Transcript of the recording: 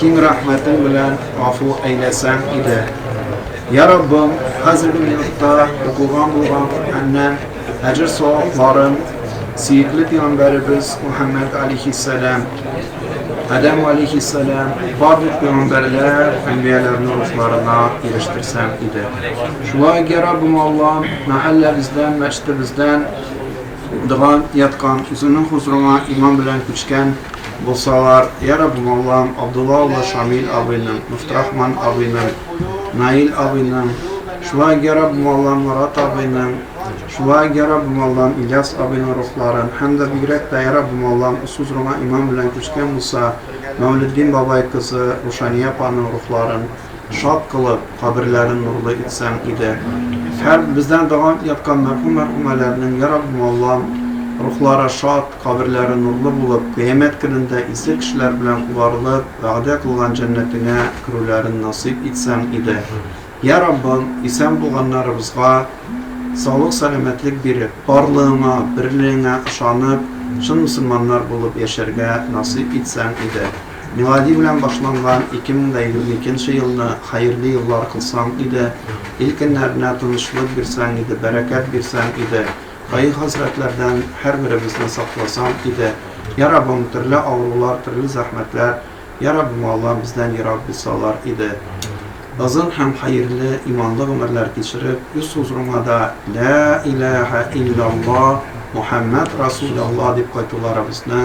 Киң рәхмәтең белән гафу әйләсәң иде. Йә Раббым, хәзерге минутта укылган булган Коръәннән әҗер-савапларын сөекле пигамбәребез Мөхәммәд алейһиссәлам, Адәм алейһиссәлам, барлык пигамбәрләр, әнбияләрнең рухларына ирештерсәң иде. Шулай ук, йә Раббым Аллам, мәхәлләбездән, мәчетебездән, Дога яткан, үзеңнең хозурыңа иман белән күчкән булсалар, Йә Раббым Аллам, Абдулла улы Шамил абыйның, Мөфтрахман абыйның, Наил абыйның, шулай ук, Йә Раббым Аллам, Марат абыйның, шулай ук, Йә Раббым Аллам, Ильяс абыйның рухларын һәм дә бигрәк тә, Йә Раббым Аллам, усхузурыңа иман белән күчкән булса, Мәүлетдин бабай кызы Рушания апаның рухларын, Шат кылып, каберләрен нурлы итсәң иде. Һәм бездән доган яткан мәрхүм-мәрхүмәләрнең, йа Раббым, Аллам, рухлары шат, каберләре нурлы булып, Кыямәт көнендә изге кешеләр белән куарылып, вәгъдә кылган җәннәтеңә керүләрен насыйп итсәң иде. Йа Раббым, исән булганнарыбызга саулык-сәламәтлек биреп, барлыгыңа, берлегеңә ышанып, чын мөселманнар булып яшәргә насыйп итсәң иде. Милади белән башланган 2022 нче елны хәерле еллар кылсаң иде, ил көннәренә тынычлык бирсәң иде, бәрәкәт бирсәң иде, кайгы-хәсрәтләрдән һәрберебезне сакласаң иде, йа Раббым, төрле авырулар, төрле зәхмәтләр, йа Раббым Аллам, бездән ерак булсалар иде. Озын һәм хәерле, иманлы гомерләр кичереп, үз хузурыңа да Лә иләһә иллялла, Мухәммәд Расулялла дип кайтуларыбызны